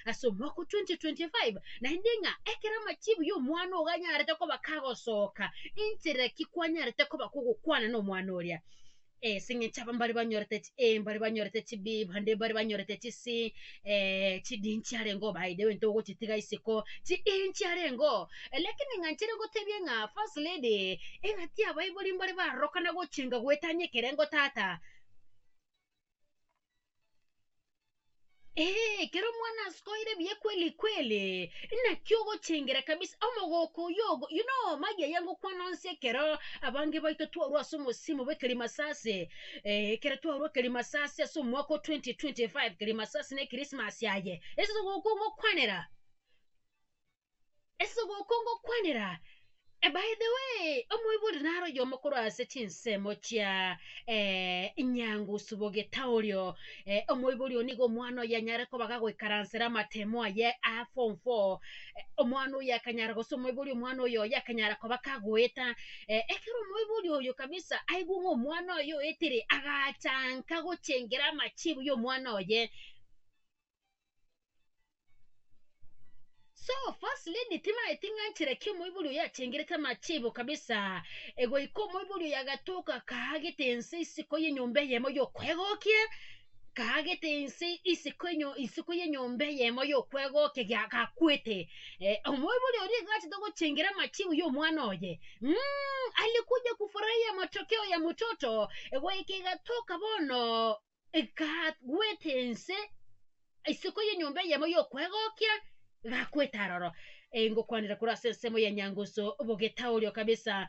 ase omwaka o 2025, naende ng'a ekero amachibu y'omwana ogo anyarete koba kagosoka, inchera ki kwanyarete koba kogokwana nomwana oria? Ase eng'encho aba mbare banyorete chi- eh, mbare banyorete chibiiba, naende mbare banyorete chisi, eh, chidinchi arenge obaeire gento ogochitiga isiko, chidinchi arengeo. Lakini ng'a nchire ngotebie ng'a first lady, eng'ati abaibori mbare barorokana gochenga goetania ekerengo tata. eeh ekero omwana askoire buya kweli kweli, naki ogochengera kabisa omogoko oyo ogo you know magi aye ngokwana onsi ekero abange baito twarwa ase omosimo bwa ekerimasasi eeh ekero twarwa ekerimasasi ase omwaka o 2025 kerimasasi na ekrismasi aye, ase ogoko ngokwanera. ase ogoko ngokwanera, eh, by the way, omoibori naro oyomo korwa ase chinsemo chia Nyangusubogeita orio, eh, omoibori oyo nigo omwana oyo anyare koba gagoikaransera amatemo aye a form four, eh, omwana oyo akanyara gose omoibori omwana oyo oye akanyara koba kagoeta, eh, ekero omoibori oyo kabisa aigwe ng'a omwana oye oetire, agachanka gochengera amachibu ya omwana oye. So first lady timaeti ng'a nchera ekia omoibori oyo achengerete amachebo kabisa egoika omoibori oyo agatoka akaagete ense isiko y'enyomba eyemo y'okwegokia akaagete ense isiko enyo isiko y'enyomba eyemo y'okwegokia gia gakwete eh, omoibori oria iga achete gochengera amachibo y'omwana oye mm, alikuja kufurahia matokeo ya mtoto egoika igatoka bono egagweta ense isiko y'enyomba eyemo y'okwegokia egagweta aroro. Ee, ngokwanera korwa ase ensemo ya Nyangusu, bogetaoria kabisa.